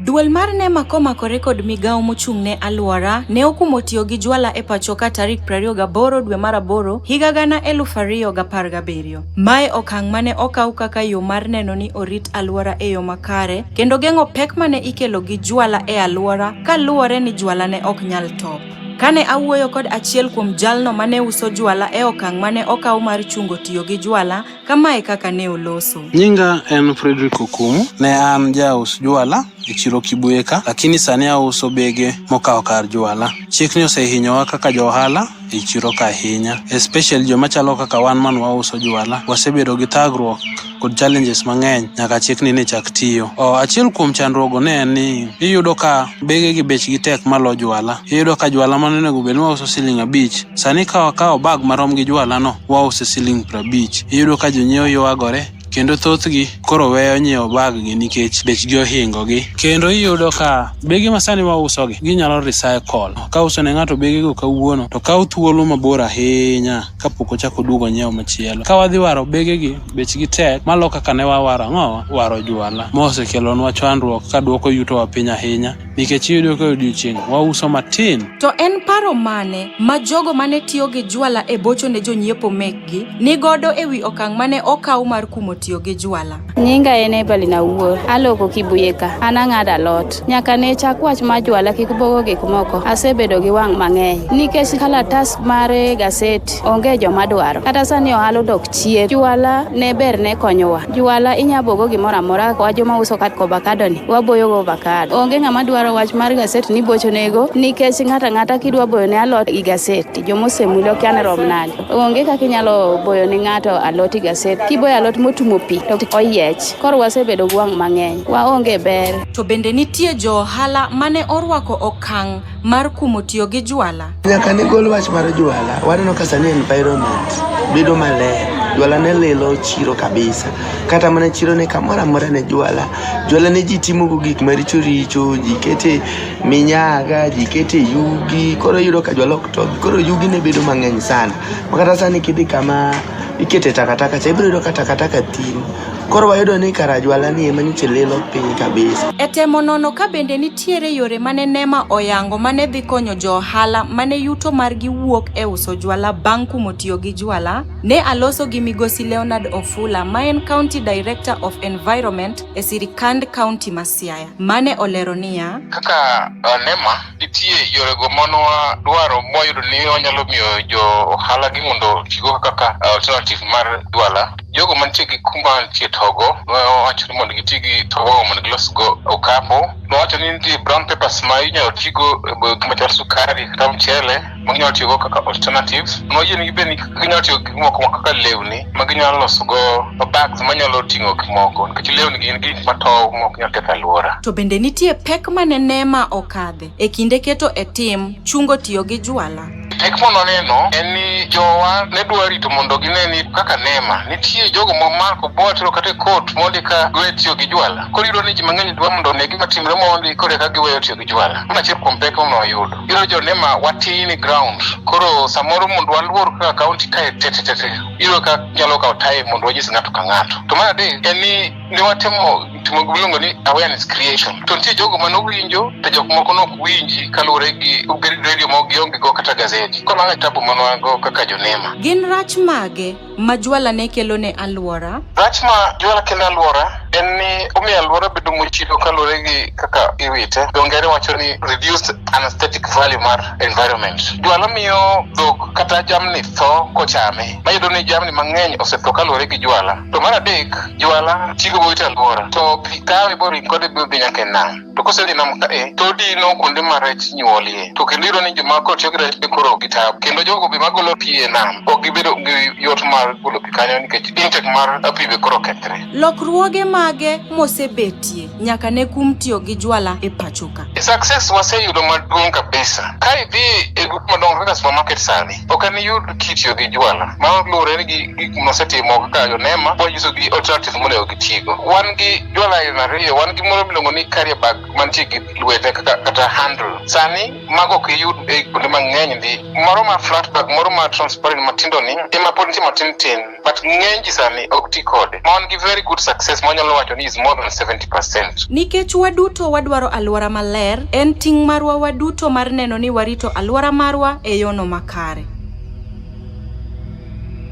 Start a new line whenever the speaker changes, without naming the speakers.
Duol mar NEMA komakore kod migawo mochung' ne alwora ne okumo tiyo gi jwala e pachoka tarik 28 dwe mar aboro higa gana 2017. Mae okang' mane okaw kaka yo mar neno ni orit alwora e yo makare kendo geng'o pek mane ikelo gi jwala e alwora ka luwore ni jwala ne ok nyal top. Kane awuoyo kod achiel kuom jalno mane uso jwala e okang' mane okaw mar chungo tiyo gi jwala, Kama e kaka ne oloso. Nyinga en
Frederick Okumu. Ne an jaus jwala e chiro Kibweka, lakini sani auso bege mokawo kar jwala. Chikni osehinyowa kaka johala e chiro ka ahinya, especially joma chalo kaka wan man wauso jwala. Wasebedo gi thagruok kod challenges mang'eny nyaka chikni ne chak tiyo. O, achiel kuom chandruogo ne en ni iyudo ka bege gi bechgi tek malo jwala. Iyudo ka jwala mane onego bed ni wauso siling' abich, sani ka wakawo bag marom gi jwalano, wause siling' prabich. Iyudo ka jonyiewo ywagore kendo thothgi koro weyo nyiewo baggi nikech bechgi ohingogi. Kendo iyudo ka bege masani wausogi ginyalo recycle. Kauso ne ng'ato begego kawuono to kawo thuolo mabor ahinya kapok ochako oduogo onyiew machielo. Ka wadhi waro begegi bechgi tek malo kaka ne wawaro ang'owa, waro juala mosekelonwa chandruok kaduoko yutowa piny ahinya. nikech iyudo ka odiechieng' wauso matin. To en paro
mane ma jogo mane tiyo gi jwala e bocho ne jonyiepo mekgi ni godo e wi okang' mane okaw mar kumo tiyo gi jwala? Nyinga en Evelyn
Awuor. Aloko Kibuye ka. An ang'ado alot. Nyaka ne chak wach mar jwala kik bogo gik moko, asebedo gi wang' mang'eny. Nikech kalatas mar gaset onge joma dwaro. Kata sani ohala odok chien. Jwala ne ber ne konyowa. Juala inya bogo gimoro amora kaka wajo ma uso kat ovakado ni waboyo go ovakado. Onge ng'ama dwaro wach mar gaset ni bocho nego nikech ng'ata ng'ata kidwa boyo ne alot gi gaset jomosemule okia ni rom nade. Onge kaka inyalo boyo ne ng'ato alot gi gaset. Kiboyo alot motumo pi to oyiech. Koro wasebedo gi wang' mang'eny. Waonge ber. To bende nitie
jo ohala mane orwako okang' mar kumo tiyo gi juala? Nyaka ne gol wach
mar jwala, waneno ka sani environment bedo maler. Jwala ne lilo chiro kabisa, kata mana chiro ne kamoro amora ne jwala. Jwala ne ji timogo gik maricho richo, ji kete minyaga, ji kete yugi, koro yudo ka jwala ok tobi. Koro yugi ne bedo mang'eny sana, makata sani kidhi kama ikete takataka cha ibiro yudo ka takataka thim. Koro wayudo ni kara jwala ni ema nyocha lilo piny kabisa. E temo nono ka
bende nitie Nitiere yore mane NEMA oyango mane dhi konyo jo ohala mane yuto margi wuok e uso jwala bang' kumo tiyo gi jwala? Ne aloso gi Migosi Leonard Ofula ma en County Director of Environment e sirikand County ma Siaya mane olero niya, Kaka uh,
NEMA, nitie yorego manwa dwaro mwayudo ni wanyalo miyo jo ohala gi mondo tigo kaka uh, alternative mar jwala. jogo mantie gi kuma nitie togo nowacho ni mondo giti gi togo mondo gilos go okapu nowacho ni nitie brown papers ma inyalo tigo gima chal sukari kata mchele ma ginyalo tiyogo kaka alternatives noyie ni gibed ni ginyalo tiyo gi moko ma kaka lewni ma ginyalo loso go bags manyalo ting'o gik moko nikech lewni gin gik matow ma ok nyal ketho alwora To bende nitie pek
ma ne Neema okadhe e kinde keto e tim chungo tiyo gi jwala? Pek ma noneno
en ni jowa ne dwa rito mondo gine ni kaka nema nitie jogo ma mako bwatro kata e kot mondi ka dwe tiyo gi jwala. Koro iyudo ni ji mang'eny dwa mondo one gima timre mondi koro eka giweyo tiyo gi jwala. Mano achiel kuom pek ma wayudo. Iyudo jo nema watin e ground. Koro samoro mondo waluor kaka kaunti kae tetete iyudo ka nyalo kawo time mondo wanyis ng'ato ka ng'ato. To mar adek en ni ne watimo timo miluongo ni awareness creation to nitie jogo mane owinjo to jok moko nok winji kaluwore gi obed radio ma gionge go kata gazeti koro mano tabu mane wan go kaka jonema Gin rach mage
ma jwala ne kelo ne alwora? rach ma jwala
kelo e alwora en ni omiyo alwora bedo mochido kaluwore gi kaka iwite dho ngere wacho ni reduced anesthetic value mar environment jwala miyo dhok kata jamni tho kochame mayudo ni jamni mang'eny osetho kaluwore gi jwala to mar adek jwala chigo boite alwora to pi kawe boring kode biro dhi nyaka e nam to kosedhi nam kae to odino kuonde ma rech nyuolie to kendo iyudo ni joma koro tiyo gi rech be koro gi tabu kendo jogo be magolo pi e nam ok gibedo gi yot mar golo pi kanyo nikech intek mar pi be koro kethre Lokruoge mage
mosebetie? nyaka ne kum tiyo gi jwala e pachoka. Success waseyudo
maduong' kabisa. Ka idhi e grup madongo kaka supermarket sani, ok en yud kitiyo gi jwala. Ma luwore gi gik mosetimo kaka Yonema, wanyiso gi alternatives monego gitigo. Wan gi jwala aina ariyo, wan gi moro miluongo ni carrier bag mantie gi lwete kaka kata handle. Sani mago ok iyud e kuonde mang'eny ndi. Moro ma flat bag, moro ma transparent matindo ni, ema pod nitie matin tin. but ng'eny ji sani ok ti kode ma wan gi very good success ma wanyalo wacho ni is more than 70 percent Nikech waduto
wadwaro alwora maler, en ting' marwa waduto mar neno ni warito alwora marwa e yono makare.